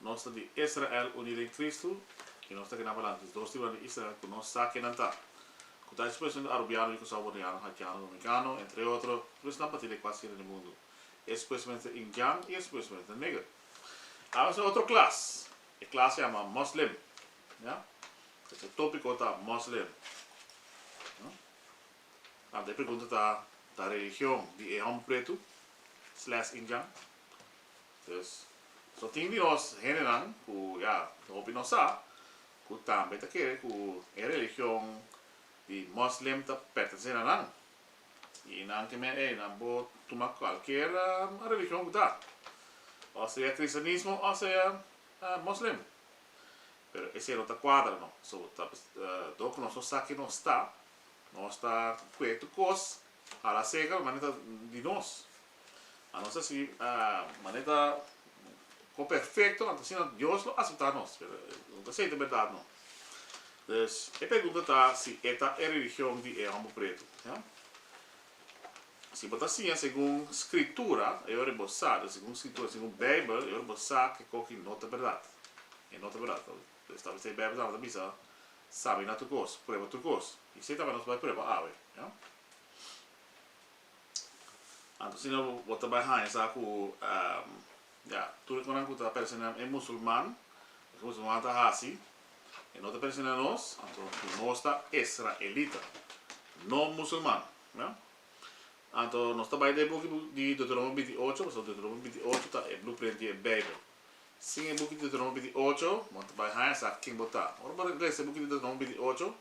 Nos ta di Israel uní den Kristu i nos ta ke na pa lantis dos tribunan di Israel ku no sa kinan ta, ku ta ekspreshon di arubiano, yukusao, boniano, haitiano, domikano, entre otro, i pues nan parti di e kuater hende di mundu. E ekspreshonnan ta Indian i e ekspreshonnan ta Neger. Awe ta otro klas, e klas yama Moslem, ya. Pasobra e topiko ta Moslem. Anto e pregunta ta, ta religion di e hòmber pretu sles Indian? Entonces, so tin dios, hendenan cu ya tin hopi no sa, cu tambe ta kere cu e religion di Muslim ta pertense na nan. Y nan ke men ey, nan por tuma cualkier religion cu ta, o sea cristianismo o sea Muslim. Pero esey no ta cuadra no. So, ta dor cu nos no sa ke nos ta, nos ta cu e tu cos, hala seker, manera ta di nos. A nos ta sigui manera cu perfecto nan ta asina Dios lo acepta nos. No ta sey ta berdad no. Pues e pregunta ta si e ta e religion di e homber preto. Si bo ta siña segun scritura e ora bo sa, segun scritura, segun Bijbel e ora bo sa kico ki no ta berdad. E no ta berdad. Pues tabata e Bijbel tabata bisa sabina tur cos, prueba tur cos. Y esey tabata nos bai prueba awe. Anto asina bo ta bai haña sa ku ya, tur e konan ku ta persina e musulman, loke musulman ta hasi e no ta persina nos, anto nos ta israelita, no musulman. Ya. Anto nos ta bai den e buki di Deuteronomio binti i ocho, pasobra Deuteronomio binti i ocho ta e blueprint di e Beibel. Sin e buki di Deuteronomio binti i ocho bo no ta bai haña sa ken bo ta. Ora bo resa e buki di Deuteronomio binti i ocho,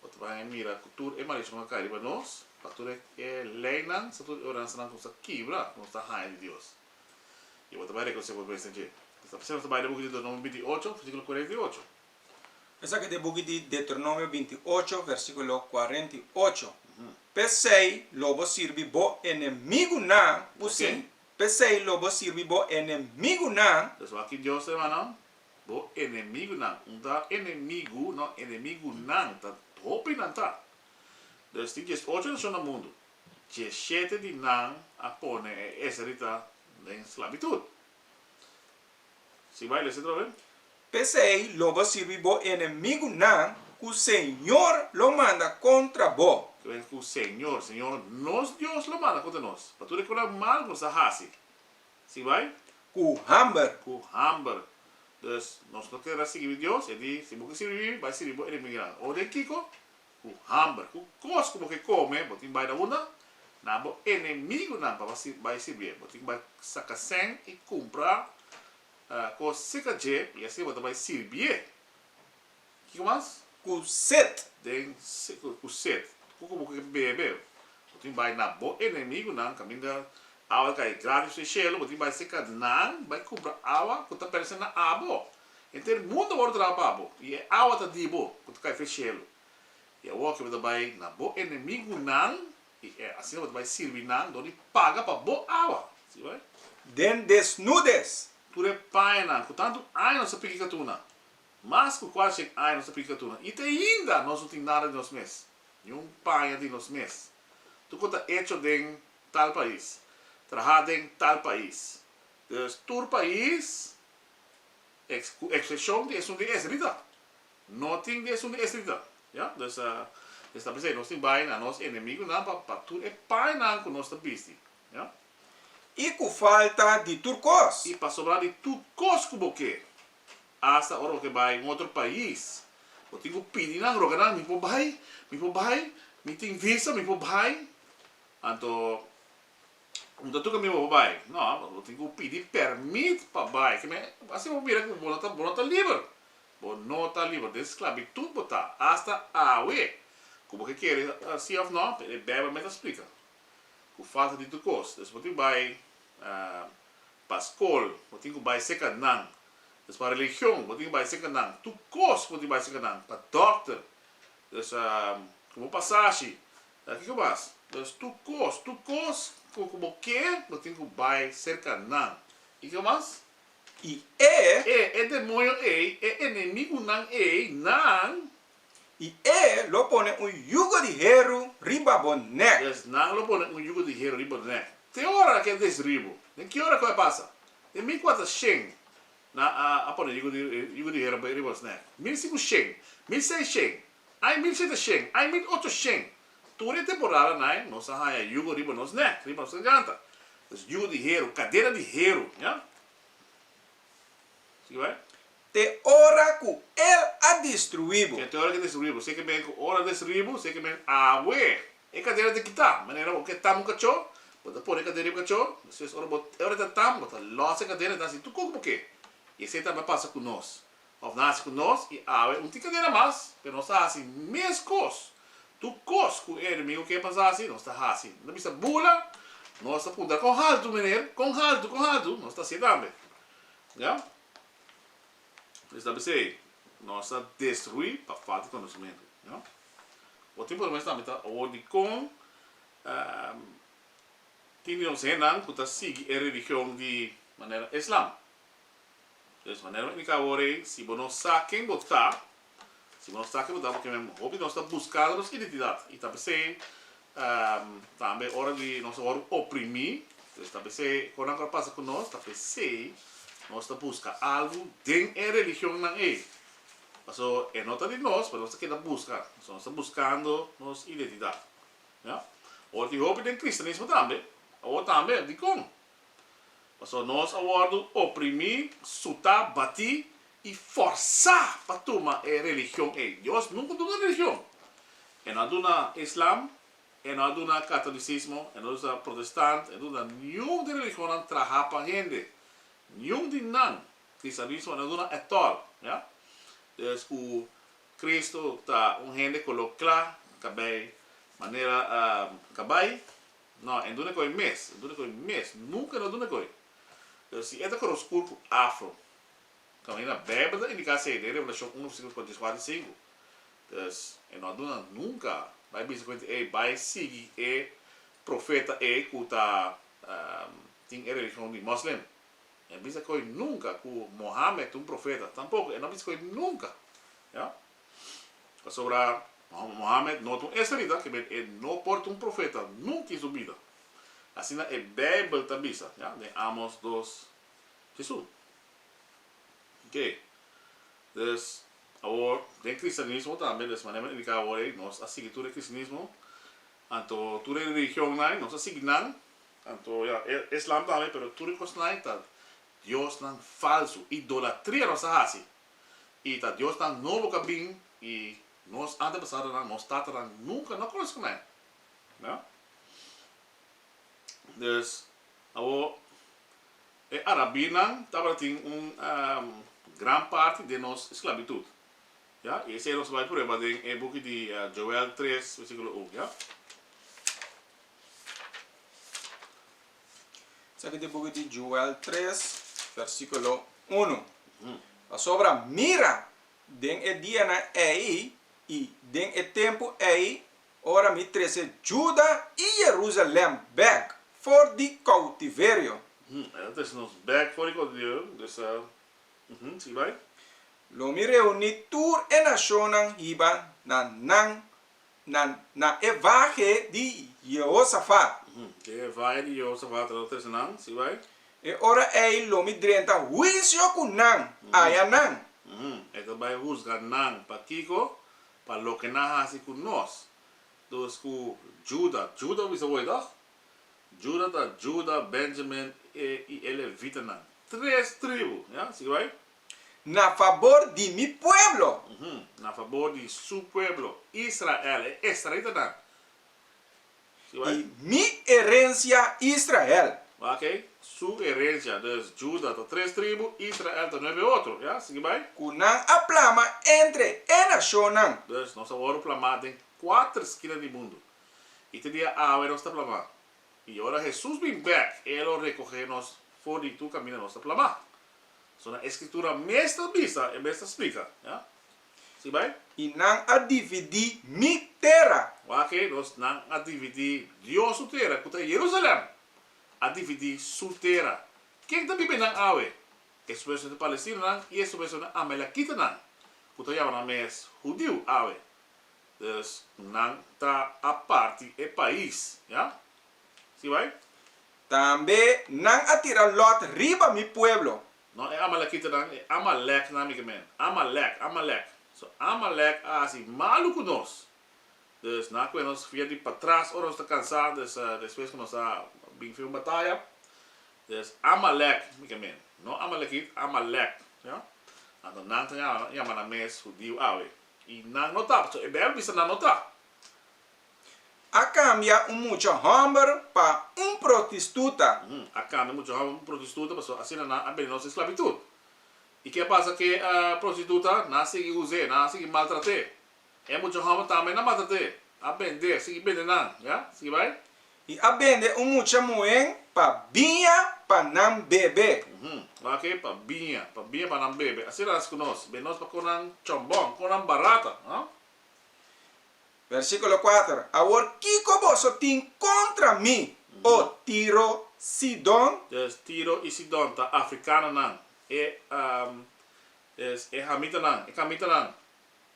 Bo ta baña mira ku tur e malishon a kai riba nos, pa tur e leinan sa tur e oransanan ku nos a kibra ku nos ta haña di Dios. I bo ta bai rekonosé bo mes den dje. Esta p'esei nos ta bai den buki di Deuteronomio binti ocho, versíkulo kuarenta i ocho. Esaki ta e buki di Deuteronomio binti ocho, versíkulo kuarenta i ocho, P'esei lo bo sirbi bo enemigunan ku sin, p'esei lo bo sirbi bo enemigunan. Despues aki Dios, hermanonan, Bo enemigunan, un ta enemigu, no, enemigunan ta hopi nan ta. Pues tin dies ocho nashon na mundu, dieshete di nan a pone e esrita den slabitud. Si bai lesa atrobe. P'esei lo bo sirbi bo enemigunan ku Señor lo manda kontra bo. Ta bira ku Señor, Señor nos Dios lo manda kontra nos, pa tur e kunan mal ku nos a hasi. Si bai. Ku hamber. Ku hamber. Dus nos no ker a sigui di Dios, e di, si bo ke sirbi mi, bai sirbi bo enemigu di nan. O den kiko? Ku hamber. Ku kos ku bo ke kome, bo tin bai na unda? Na bo enemigunan pa bo bai sirbi e. Bo tin bai saka sèn i kumpra kos sika dje i asi bo ta bai sirbi e. Kiko mas? Ku set. Den se ku set. Ku bo ke bebe. Bo tin bai na bo enemigunan kaminda awa kai gratis den shelu. Bo tin bai seka nan bai kumpra awa ku ta pertene na abo. Henter mundu a wòrdu traha pa bo i e awa ta di bo ku ta kai f'e shelu. I awor ke bo ta bai na bo enemigunan i asina bo ta bai sirbi nan dor di paga pa bo awa. Si bai? Den desnudes. Tur e pañanan ku tantu aña nos a piki katuna Mas ku kualcien aña nos ta predica tur nan, y te ainda nos no tin nada di nos mes, ni un paña di nos mes. Tur cu ta hecho den tal pais, traha den tal pais. Dus tur pais, ex, cu excepcion di esun di Esdrita, no tin di esun di Esdrita. Ya, dus e sta p'esei nos tin bai na nos enemigunan pa, pa tur e pañanan cu nos ta bisti. Ya. Y cu falta di tur cos. Y pasobra di tur cos cu bo ke, Asta ora bo ke bai un otro pais bo tin ku pidi nan roga nan mi por bai mi por bai mi tin visa mi por bai anto bo ta tuka mi bo por bai no bo tin ku pidi permit pa bai keme asi bo mira ku bo no ta bo no ta liber bo no ta liber den sklabitut bo ta asta awe ku bo ke kere si of no e beibel me ta splika. ku falta di tur kos. Des bo tin ku bai pa skol, bo tin ku bai serka nan. Des pa religion, bo tin ku bai serka nan. Tur kos bo tin ku bai serka nan. Pa dòkter, des ku bo pasa shi. Kiko mas? Des tur kos, tur kos ku ku bo ker, bo tin ku bai serka nan. I kiko mas? I e. E, e demonio ei, e enemigunan ei, nan I e lo pone un yugo di heru riba bo nèk. Yes, nan lo pone un yugo di heru riba bo nèk. Te ora ke a destruí bo? Den ki ora ku a pasa? Den mi kua ta shen, nan a a pone yugo di yugo di heru riba nos nèk. Mil siku shen, mil sei shen, ai mil shete shen, ai mil ocho shen, tur e temporada nai nos a haña yugo riba nos nèk, riba nos garganta. Yugo di heru, kadena di heru, ya. Sigui bai. te ora ku El a destruí bo. Ke te ora ke destruí bo. Seke men ku ora destruí bo, seke men awe e kadena ta kitá. Manera bo ke tam un kachó, bo ta pone e kadena riba e kachó. Despues ora bo ora ta tam, bo ta lòs e kadena, e ta hasi tukuk bo ke. I esei tambe a pasa ku nos. Òf nan hasi ku nos, i awe un tin kadena mas, pero nos ta hasi mes kos, tur kos ku e enemigu ke pas hasi, nos ta hasi. Nos ta bisa bula, nos ta puntra kon haltu, meneer, kon haltu, kon haltu, nos ta hasié tambe. Ya. Esnan bis'ei, nos ta destruí pa falta di konosementu. Bo tin por mester tambe ta awor dikon tin di nos hennan ku ta sigui e religion di manera Islam. Manera mi indiká awor ei, si bo no sa ken bo ta, Si bo no sa kico ta pakié men hopi di nos ta buscando nos identidad y ta p'esey tambe ora di nos ta wòrdu oprimí, pues ta p'esey con nan cu a pasa cu nos ta p'esey nos ta busca algo den e religionnan ey. Paso e no ta di nos pero nos ta keda busca, paso nos ta buscando nos identidad. Ora tin hopi den cristianismo tambe, awor tambe, dicon? Pasobra nos a wòrdu oprimí, sutá, batí i fòrsá pa tuma e religion ei. Dios nunka duna religion. E no a duna Islam, e no a duna Katolisismo, e no a duna Protestant, e no a duna niun di religionnan trahá pa hende. Niun di nan. Kristianismo e no a duna etòl. Ya. Pues ku Kristu ta un hende ku lo kla, ta bai manera, ta bai. No, e duna koe mes, e duna koe mes, nunka no duna koe. Pero si e ta koro skur ku afro, kan e na Beibel ta indiká esei, den Revelashon uno versíkulo kuenta di es kuater i sinku. Dus, e no a duna nunka. Bai bisa kuenti ei, bai sigui e profeta ei ku ta tin e religion di Moslem. E bisa koe nunka ku Mohamed un profeta, tampoko, e no bisa koe nunka. Pasobra Mohammed no ta un israelita, ke men e no por ta un profeta nunka i su bida. Asina e Beibel ta bisa den Amos dos Jesús. Oke. Dus, awor den kristianismo tambe, des manera men a indiká awor ei, nos a sigui tur e kristianismo, anto tur e religionnan, nos a sigui nan, anto ya, Islam tambe, pero tur e kosnan ei ta diosnan falsu, idolatria nos a hasi. i ta diosnan nobo ku a bin, i nos antepasadonan, nos tatanan, nunka no a konosi kuné. Nau? Dus, awor, e arabinan tabata tin un gran parti den nos sklabitut. Ya? I esei nos bai prueba den e buki di Joel tres, versíkulo un. Ya? Esaki ta e buki di Joel tres, versikulo unu. Pasobra mira, den e dianan ei i den e tempu ei, ora mi trese Juda i Jerusalem bek for di koutiverio. E ta trese nos bek for di koutiverio, dus a, sigui bai. Lo mi reuní tur e nashonnan hiba na nan na na e vahe di Jehosafat. Ke e vahe di Jehosafat ta trese nan? Si bai. E ora ei lo mi drenta huisio ku nan, aya nan. E ta bai husga nan. Pa kiko? Pa loke nan hasi ku nos. Dus ku Juda, Juda wis awor ei tòg? Juda ta Juda, Benjamin i e levitanan. Tres tribu, ya. Si bai. Na fabor di mi pueblo. Uhu, na fabor di su pueblo, Israel, e esraelitanan. Si bai. I mi erensia, Israel. Oké, su erensia. Dus, Juda ta tres tribu, Israel ta nuebe otro. Ya, sigui bai. Ku nan a plama entre e nashonnan. Dus, nos a wòrdu plamá den kuater skina di mundu. I te dia awe nos ta plamá. I ora Hesus bin bèk, e lo rekohé nos for di tur kaminda nos ta plamá. So na e Skritura mes ta bisa, e mes ta splika. Ya? Si bai? I nan a dividí mi tera. Wak-e nos, nan a dividí Dios su tera, ku ta Yerusalèm, a dividí su tera. Ken ta biba nan awe? Esei mesun di palestinonan i esei mesun di amelekitanan, ku ta yama nan mes hudiu awe. Dus, nan ta a parti e pais. Ya? Si bai. Tambe nan a tira Lot riba mi pueblo. No e amalekitanan, e amalèknan mi ke men. Amalèk, amalèk. So, amalèk a hasi malu ku nos. Dus, nan a kume nos via di patras ora nos ta kansá, dus despues ku nos a bin fin un bataya. Dus, amalèk mi ke men. No amalekit, amalèk. Oja? Anto nan ta yama nan mes hudiu awe. I nan no ta, so e Beibel bisa nan no ta. A cambia un mucha homber pa un protistuta. A cambia un mucha homber pa un protistuta pasobra asina nan a bende nos esclavitud. Y ke a pasa ke prostituta? Nan a sigui uze, nan a sigui maltrate. E mucha homber tambe nan a maltrate, a bende, sigui bende nan, ya, sigui bay. Y a bende un mucha muhen pa biña pa nan bebe. Ora ke pa biña, pa biña pa nan bebe. Asina nan a haci cu nos. Bende nos pa con nan chon bon, con nan barata, ha. Versíkulo kuater, Awor kiko boso tin kontra mi, O Tiro, Sidon? Des, Tiro i Sidon ta afrikanonan, e, um, es e hamitanan, e kamitanan,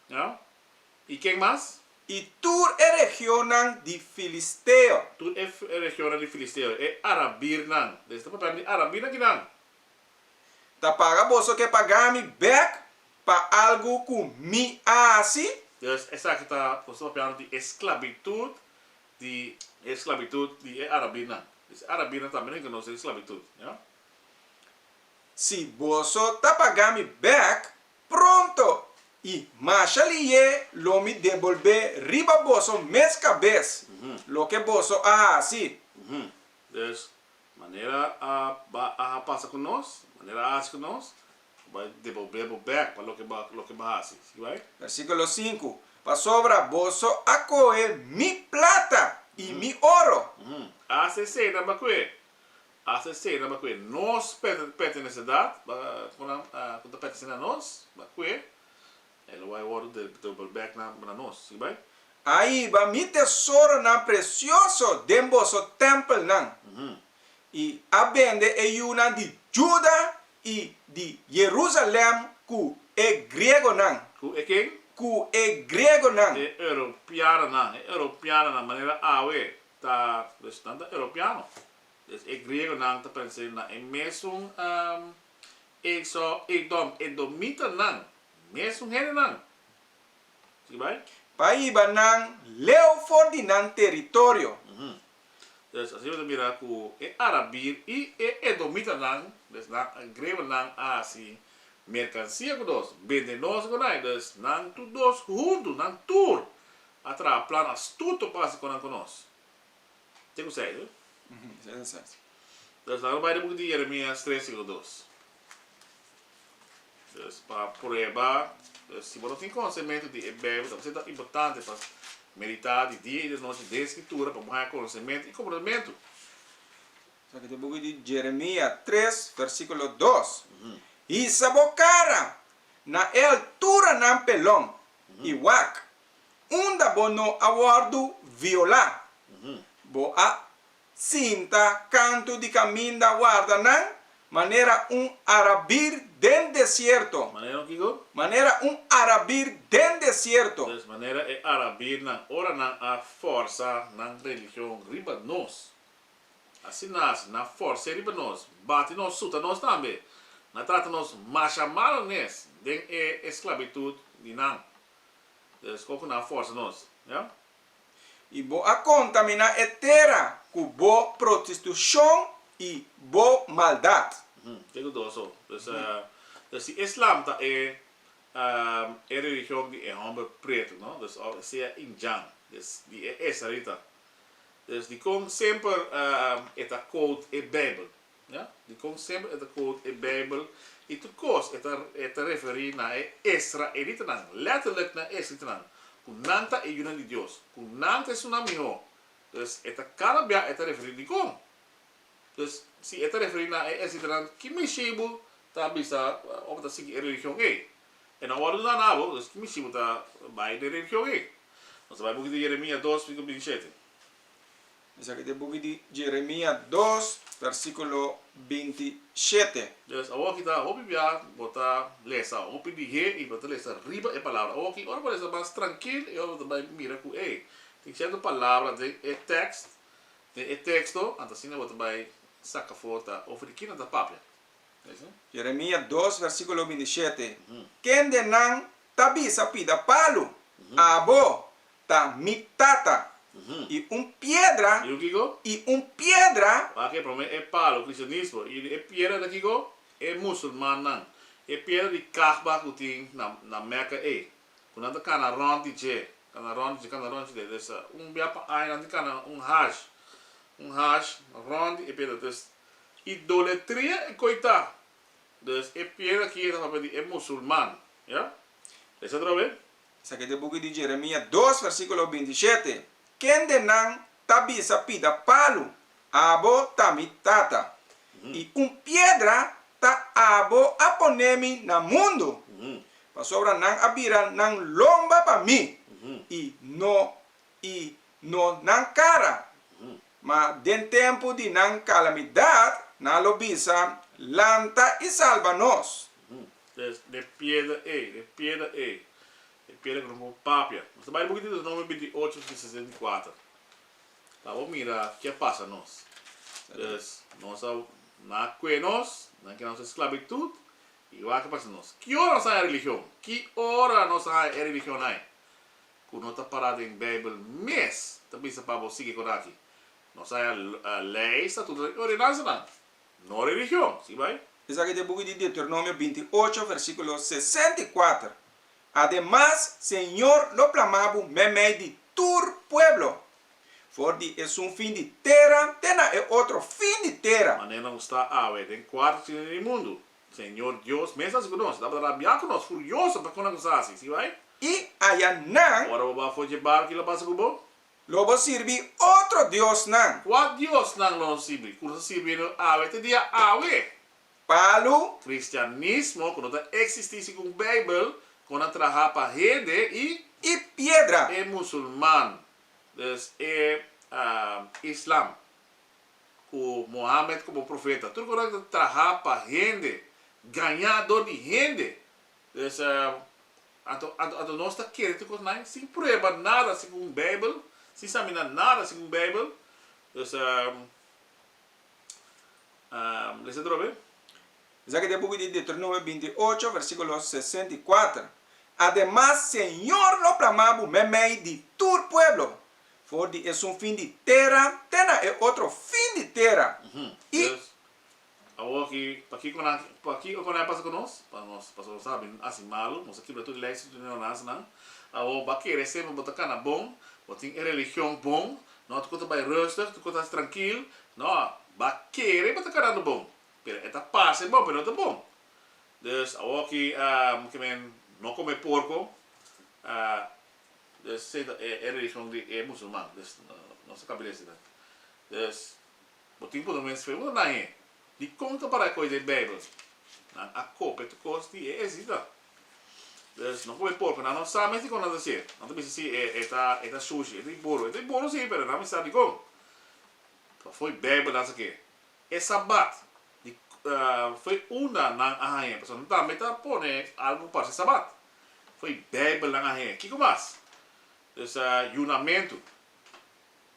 ja? I ken mas? I tur e regionnan di filisteo. Tur e, e regionnan di filisteo, e arabirnan. Des ta papia di arabirnan kinan. Ta paga boso ke paga mi bèk pa algu ku mi a hasi? Pues esaki ta kon su papiano di e sklabitut di e sklabitut di e arabinan. Pues e arabinan tambe no inkonosé di sklabitut, ja? Si boso ta pagá mi bèk pronto i masha liye lo mi debolbé riba boso mes kabes loke boso a hasi. Pues Manera a ba a a pasa ku nos, manera a hasi ku nos, Bo bai devolbé bo bèk pa loke bo loke bo hasi. Sigi bai. Versíkulo sinku, Pasobra boso a kohe mi plata i mi oro. Asta esei nan ba kohe, asta esei nan ba kohe. Nos pertenesedat, ba ku nan ku ta pertenesé na nos, ba kohe. E lo bai wòrdu de dubbelbek na na nos. I bai. Ahiba mi tesoronan presioso den boso tèmpelnan, i a bende e yunan di Juda i di Jerusalèm ku e griegonan. Ku e ken? Ku e griegonan. E europianonan, e europianonan, manera awe ta nan ta europiano. Des e griegonan ta pens'é na e mesun. E so Edom, edomitanan, mes un hendenan. Sigui bai. Pa hiba nan leu for di nan teritorio. Des asina ta mira ku e arabir i e edomitanan, des nan grebanan, a hasi merkansia ku nos, bende nos ku nai. Dus nan tur dos huntu, nan tur a traha plan astuto pa hasi konan ku nos. Ken ku sa e? Entonces laga no bai den buki di Jeremias tres sino dos. Entonces pa prueba si bo no tin konsenmentu di e Beibel ta por sento importante pa meditá di dia i di nochi den e Skritura pa bo haña konsenmentu i komprendementu. Esaki ta e buki di Jeremia tres versikulo dos, Hisa bo kara na e altura nan pelon i wak unda bo no a wòrdu violá. Bo a sinta kantu di kaminda warda nan manera un arabir den desierto. Manera un kiko? Manera un arabir den desierto. Des manera e arabirnan, ora nan a fòrsa nan religion riba nos. Asina así, nan fòrs'é riba nos, bati nos, suta nos tambe. Nan trata nos masha malu nes den e esclabitud di nan. Dia sco cu nan a forsa nos, ya. Y bo a contamina e tera cu bo prostitucion y bo maldad. Uhm, ke cu do so? Dus, dus si Islam ta e, ehm, e religion di e homber preto, no? Dus of sea Indian, dus di e Israelita. Dus dicon semper, ehm, e ta quote e Bijbel? Dikon semper e ta quote e Bijbel i tur kos e ta e ta referí na e israelitanan, lètterlijk na e israelitanan, ku nan ta e yunan di Dios, ku nan ta e sunan mihó. Dus e ta kada bia e ta referí dikon. Dus, si e ta referí na e israelitanan, ki mishibu ta bisa òf ta sigui e religion ei? E no a wòrdu nada na abo, dus ki mishibu ta bai den e religion ei? Nos ta bai un pokito Jeremia dos, versíkulo binti i shete. Esaki ta e buki di Jeremia dos, versikulo binti shete. Pues, awor ki ta hopi bia, bo ta lesa hopi lihé i bo ta lesa riba e palabra. Awor ki ora bo lesa mas trankil, e ora bo ta bai mira ku ei, tin cierto palabra den e tekst, den e teksto, ant asina bo ta bai saka for ta over di kin nan ta papia. Jeremia dos, versikulo binti shete, Kende nan ta bisa pida palu, Abo ta mi tata. I un piedra, i un piedra. Waak e prome e palu cristianismo i e piedra ta kiko? E musulmannan. E piedra di Kahba ku tin na na Mecca ei, ku nan ta kana rond di dje, kana rond di dje, kana rond di dje. Des un bia pa aña nan di kana un haj, un haj rond di e piedra. Des idoletria e koita Dus e pier aki e ta papia di e musulman. Ya? Lesa otro be. Esaki ta e buki di Jeremia dos versikulo binti i shete, Ken den nan ta bisa pida palu, Abo ta mi Tata, i un piedra ta abo a pone mi na mundu? Pasobra nan a bira nan lomba pa mi, i no i no nan kara. Ma den tempu di nan kalamidat nan lo bisa, Lanta i salba nos! Des den e piedra ei, den e piedra ei, e piedra ku no por papia. Nos ta bai buki Deuteronomio bintiucho hasta di sesenta i kuater pa bo mira ke a pasa nos. Des nos a, nan a kue nos, nan a keda nos den sklabitut i wak a pasa nos. Ki ora nos a haña e religion? Ki ora nos a haña e religionnan? ku no ta pará den Beibel mes ta bisa pa bo sigui kona aki. Nos haña lei, estatutonan i ordenansanan, no religion. Si bai. Esaki ta e buki di Deuteronomio binti i ocho, versíkulo sesenta i kuater, Ademas, Señor lo plamá bo meimei di tur pueblo, for di esun fin di tera te na e otro fin di tera. Manera nos ta awe den kuarto china di mundu, Señor Dios mes hasi cu nos, Lo a tabata rabia cu nos, furioso pa cona cu nos a hasi, si bay. Y aya nan. Ora bo bafo dje barco, ki lo pasa cu bo? Lo bo sirbi otro diosnan. Cua diosnan lo nos sirbi, cu nos a sirbiendo awe te dia awe? Palu. Cristianismo cu no ta existi segun Bijbel, con a traha pa hende y. Y piedra. E musulman, dus e Islam. ku Muhammad komo profeta. Tur kos nan ta traha pa hende, gaña dor di hende. Pues anto anto nos ta kere tur kos nan sin prueba nada segun Beibel, sin sabina nada segun Beibel. Pues lesa tur awe. Esaki ta e buki di Deuteronomio binti i ocho, versíkulo sesenta i kuater, Ademas, Señor lo bramá bo meimei di tur pueblo, for di esun fin di tera te na e otro fin di tera, i. Pues, awor aki, pakiko nan, pakiko konan a pasa ku nos? Pa nos, pasobra bo sabi, nan hasi malu, nos a kibra tur di leis i tur di ordenansanan. Awor, bo a kere semper bo ta kana bon, bo tin e religion bon, no, tur kos ta bai rustig, tur kos ta hasi trankil, no, bo a kere bo ta kanando bon, pero e ta parse bon, pero no ta bon. Dus, awor aki, ke men no kome porko, Dus esei ta e e religion di e musulman, dus nos ta cambia di eseinan. Dus bo tin por lo menos pregunta naye, dicon ta para e cos den bijbel? Nan a copia tur cos di e esita. Dus no probe por, cu nan no sa mes dicon nan ta haci e. Nan ta bisa si e e ta e ta sushi, e ta di buru. E ta di buru si, pero nan a bisa dicon. Pasobra bijbel ta haci ke. E Sabat di fo'i unda nan a haña, pasobra nan tambe ta pone algu parse Sabat. Fo'i Beibel nan a haña. Kiko mas? Dus yunamentu.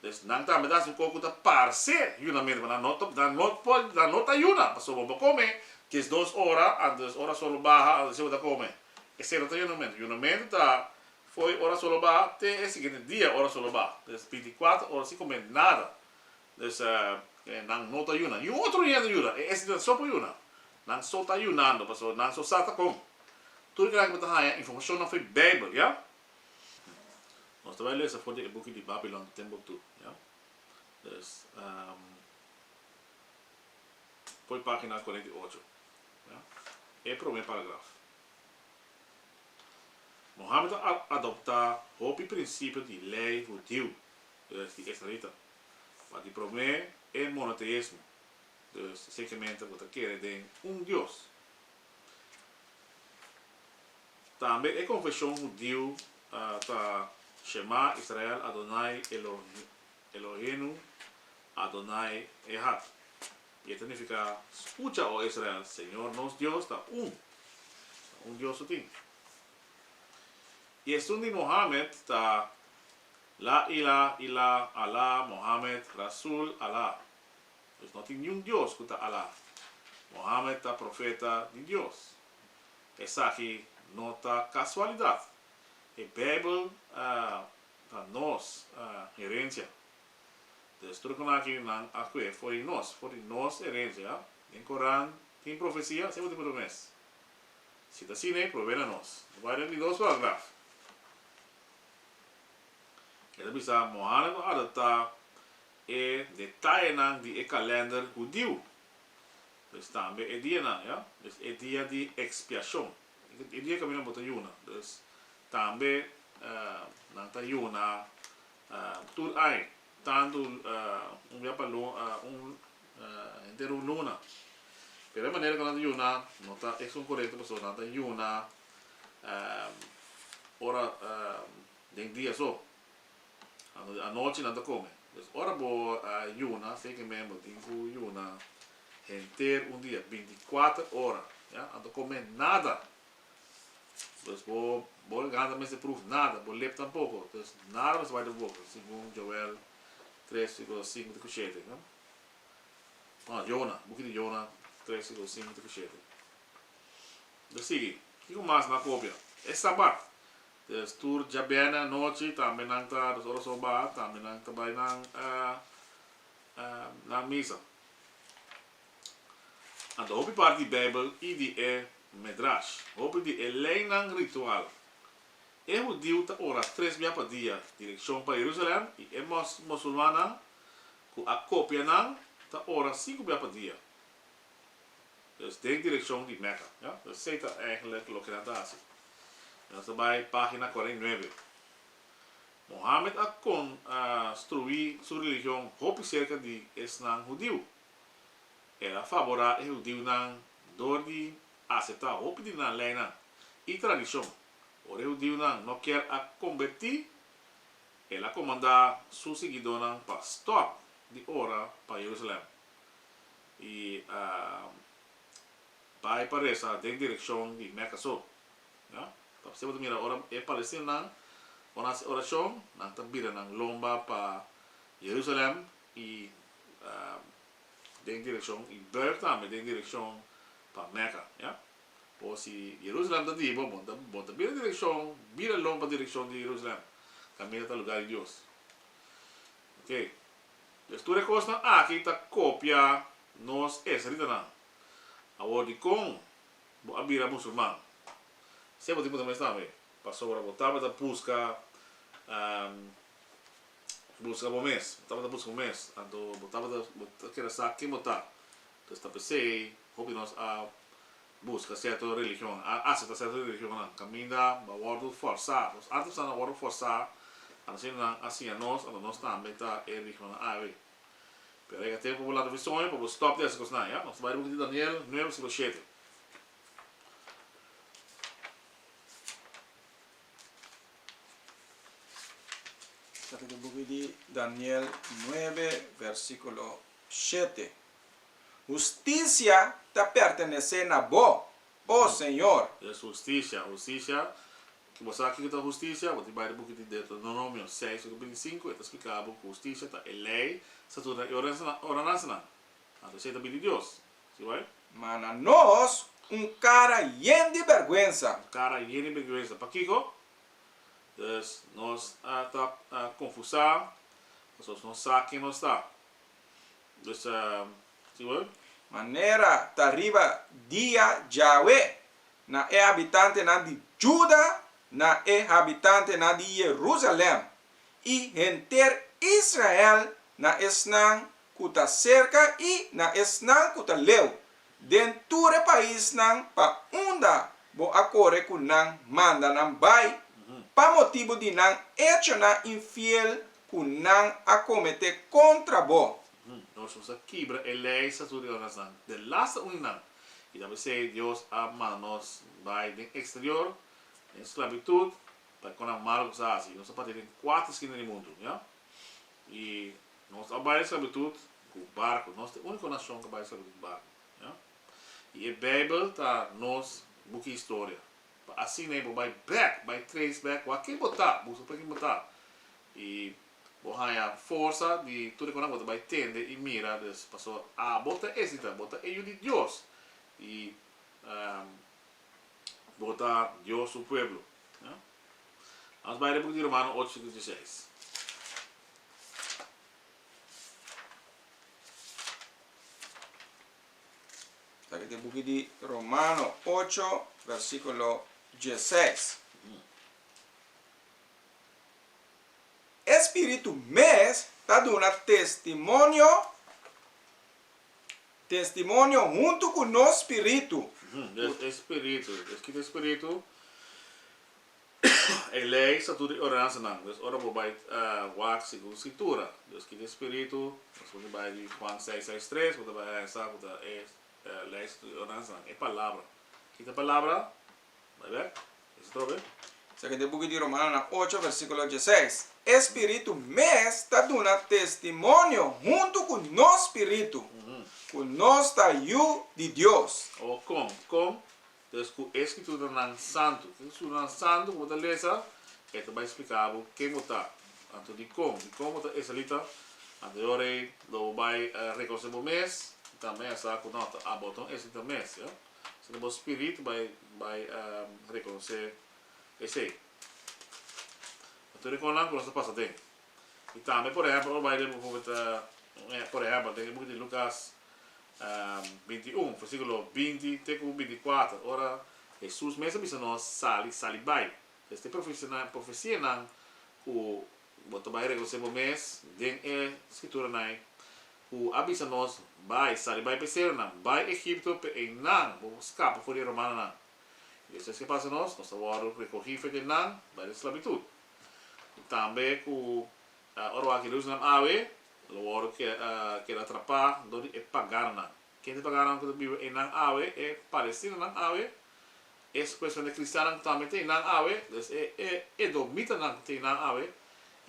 Dus nan tambe ta hasi un kos ku ta parse yunamentu, pero nan no nan no por nan no ta yuna, pasobra bo por kome diesdos ora antes des ora solo baha, antes bo ta kome. Esei no ta yunamentu. Yunamentu ta fo'i ora solo baha te e siguiente dia ora solo baha. Des binti kuater ora sin kome nada. Pues nan no ta yuna. Niun otro hende yuna. E esnan so por yuna. Nan so ta yunando pasobra nan so sa ta kon. Tur e kilabe ku bo ta haña informashon afe Beibel, ya. Nos ta bai lesa for di e buki di Babilon Timbuktu, ya. Pues, poi pagina kurenta i ocho, ya. E prome paragraf. Mohamed a adoptá hopi prinsipio di lei hudiu, di esnarita. Ma di promé e monoteismo. Dus sekemente bo ta kere den un Dios. Tambe e konfeshon hudiu ta Shema Israel Adonai Eloheinu Adonai Ehad. I e ta nifiká, Skucha, o Israel, Señor nos Dios ta un. Na un Dios su tin. I esun di Mohammed ta. La ila ila Allah Mohammed Rasul Allah Dus no tin niun Dios ku ta Allah Mohammed ta Profeta di Dios Esaki no ta kasualidat e Beibel ta nos herensia Dus trukunaki nan a kue for di nos for di nos herensia Den Koran tin profesia siempre tin promes Si ta asine probena nos Bai den di dos paragraf. E ta bisa, Mohanna ku adaptá e detayenan di e kalènder hudiu, dus tambe e dianan, ja, dus e dia di Ekspiashon, e dia ku awinan bo ta yuna, dus tambe nan ta yuna tur ai, tantu un bia pa un henter un luna. Pero e manera ku nan ta yuna no ta esun korekto, pasobra nan ta yuna. ora den dia so anochi nan ta come pues ora bo a yuna fe ke men bo tin ku yuna henter un dia binti kuater ora ya a nta kome nada pues bo bo gan ta mester pruf nada bo lep tampoko pues nada mester bai den bo boka segun Joel tres versículo sinku te ku shete no Jona buki di Jona tres versículo sinku te ku shete. Lo sigui, kiko mas na kopia? E Sabat! There's tur djabène anochi tambe nan ta dos oras o baha tambe nan ta bai nan nan misa. Anto hopi parti di Beibel i di e Medrash, hopi di e leinan ritual, e hudiu ta ora tres bia pa dia direkshon pa Jerusalèm i e mos musulmannan ku a kopia nan ta ora sinku bia pa dia. Pues den direkshon di Mèkka, ja. Pues esei ta èigenlek loke nan ta hasi. Nos ta bai página kòrta i nuebe. Mohamed a kon a struí su religion hopi serka di esnan hudiu. El a faborá e hudiunan dor di aseptá hopi di nan leinan i tradishon. Ora e hudiunan no kier a kombertí, el a komandá su siguidónan pa stòp di ora pa Jerusalèm. I a bai pa resa den direkshon di Meka so. Ya. Papia bo ta mira ora e palestinanan por hasi orashon, nan ta bira nan lomba pa Jerusalèm i den direkshon i bùrg tambe den direkshon pa Meka. Ya. Por si Jerusalèm ta di bo, bo ta bira direkshon, bira lomba direkshon di Jerusalèm, kaminda ta luga di Dios. Oke. Pues tur e kosnan aki ta kopia nos esritanan. Awor dikon bo a bira musulman? Sey bo tin punta mesnan awe, pasobra bo tabata buska buska bo mes, bo tabata buska bo mes, anto bo tabata bo ta kere sa ken bo ta, pues ta p'esey hopi nos a buska serto religionnan, a asepta serto religionnan, kaminda bo a wòrdu fòrsá. Nos alter esnan a wòrdu fòrsá, ora asina nan a siña nos, ora nos tambe ta e religionnan awe. Pero e ka tempu pa bo lata visoña, pa bo stòp di hasi kosnan, ya. Nos ta bai riba book di Daniel nueve versíkulo shete. Lata di book di Daniel nueve versíkulo shete. Husticia ta pertenece na Bo, O Señor. Es husticia, husticia. Ki bo sa kiko ta husticia? Bo tin bai di buki di Deuteronomio seis tok binti sinku, e ta spliká bo ku husticia ta e lei, statutonan i ordenansanan. Anto esei ta bin di Dios. Si bai? Ma na nos, un kara yen di bèrgwensa. Un kara yen di bèrgwensa. Pakiko? Pues, nos ta konfusá, pasobra nos no sa ken nos ta. Dus a si wou. Manera ta riba dia Jawe na e habitantenan di Juda, na e habitantenan di Jerusalem, i henter Israel, na esnan ku ta serka i na esnan ku ta leu, den tur e paisnan pa unda bo a kore ku nan manda nan bai, pa motibu di nan echonan infiel ku nan a kometé kontra bo. Nos mester a kibra e leisas tur di oranan den las ta uni nan, i ta p'esei Dios a manda nos bai den eksterior, den sklabitut, pa e kosnan malu ku nos a hasi. Nos ta parti den kuater skina di mundu, mira. I nos a bai den sklabitut ku barku. Nos ta e úniko nashon ku a bai den sklabitut ku barku, mira. I e Beibel ta nos buki historia. Pa asina e bo bai bek, bai trace bek wak-e bo ta, busa pa kin bo ta. I bo haña forsa di tur e konan bo ta bai tende i mira. Dus, paso abo ta esita, bo ta e Yu di Dios i bo ta Dios su pueblo. Lamas bai den buki di Romano ocho di dieseis. Taki ta e buki di Romano ocho, versikulo dieses. E Spiritu mes ta duna testimonio, testimonio huntu ku nos spiritu. Des e Spiritu, des kiko e Spiritu E lei sa tur di ordenansanan, dus ora bo bai wak segun Skritura. Dios kita e spiritu, nos por di bai di Juan seis seis tres, bo ta bai hesa ku ta e lei sa tur di ordenansanan, e palabra. Kita palabra, bai bek, hesa atrobe. Esaki ta e buki di Romanonan ocho versikulo diesseis, E Spiritu mes ta duna testimonio huntu ku nos spiritu ku nos ta yu di Dios. Awor kon? Kon Pues ku e Skrituranan santu. Ki Skrituranan santu ku bo ta lesa, e ta bai spliká bo ken bo ta, anto dikon, dikon bo ta israelita, anto yora ei lo bo bai rekonosé bo mes i tambe a sa ku nòt, abo ta un israelita mes, ja. Asina bo spirit bai bai rekonosé esei. Tur e kosnan ku nos ta pasa den. Y tambe por ehempel ora bai den bukunan ta por ehempel den e buki di Lucas binti i un versiculo binti te cu binti i cuater ora Jesus mes a bisa nos sali sali bai es ta e profecianan cu bo ta bai reconoce bo mes den e scrituranan cu a bisa nos bai sali bai pe seronan bai Egipto pe eynan bo scapa for di e romanonan y despues ki'e pasa nos nos ta worde recogi frente nan bai den sclavitud. Tambe ku ora wak e Jerusalem awe, lo wòrdu keda atrapá dor di e pagannan. Ken ta e pagannan ku ta biba einan awe? E palestinanan awe. Es kuestion di kristiannan ku tambe ta einan awe, dus e edomitanan ku ta einan awe,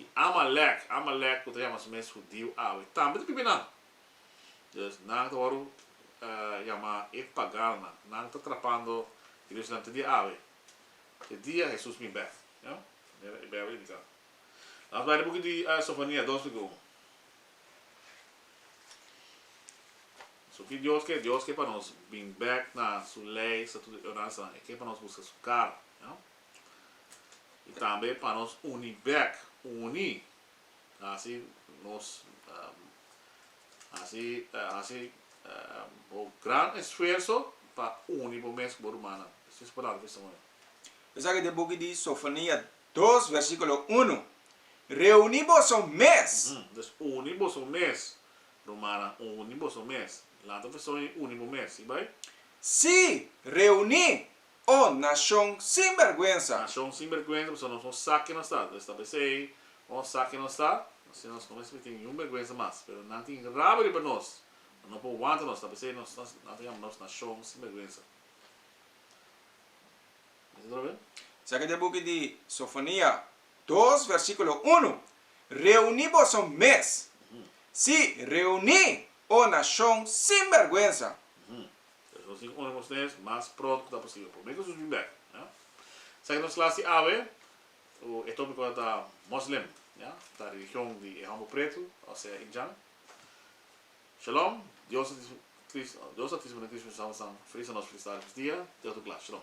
i Amalèk, Amalèk ku ta yama su mes hudiu awe, tambe ta biba einan. Dus nan ta wòrdu yama e pagannan. Nan ta atrapando Jerusalem te dia awe. E dia Hesus bin bèk. Jan. Manera e Bijbel indika. Lamas bai di buki di Sofonias dos lika un. So ki Dios ke? Dios ke pa nos bin bèk na su lei, estatuto i ordenansanan. E ke pa nos buska su kara. Jan. I tambe pa nos uni bèk, uni, Hasi nos hasi hasi bo gran esfuerso pa uni bo mes ku bo rumannan. Esei su palabra testimonio. Esaki ta e buki di Sofonia dos versikulo unu, Reuni boso mes! Pues, uni boso mes, rumannan, uni boso mes. Lanta testimonio di uni bo mes, si bai. Sí, reuni Oh, nashon sin bèrgwensa! Nashon sin bèrgwensa, pasobra nos no sa ke nos ta. Nos ta bisa ei, Nos sa ke nos ta, asina nos no mester tin niun bèrgwensa mas. Pero nan tin rabia riba nos, nan no por wanta nos, ta bisa ei, Nos a yama nos nashon sin bèrgwensa. Mira atrabes. Sa ke ta e buki di Sofonia dos, versíkulo unu, Reuní boso mes, sí, reuní, oh nashon sin bèrgwensa! Por eso nos tin uni nos nes mas pronto cu ta posible. Prome cu Jesus bin bek. Esaki nos clas di awe cu e topico ta Muslim, ta religion di e homber preto, osea Indian. Shalom. Dios ta disponibel na Cristo Jesus. Nos ta feliz na nos felicidad di Dios dia. Te otu clas. Shalom.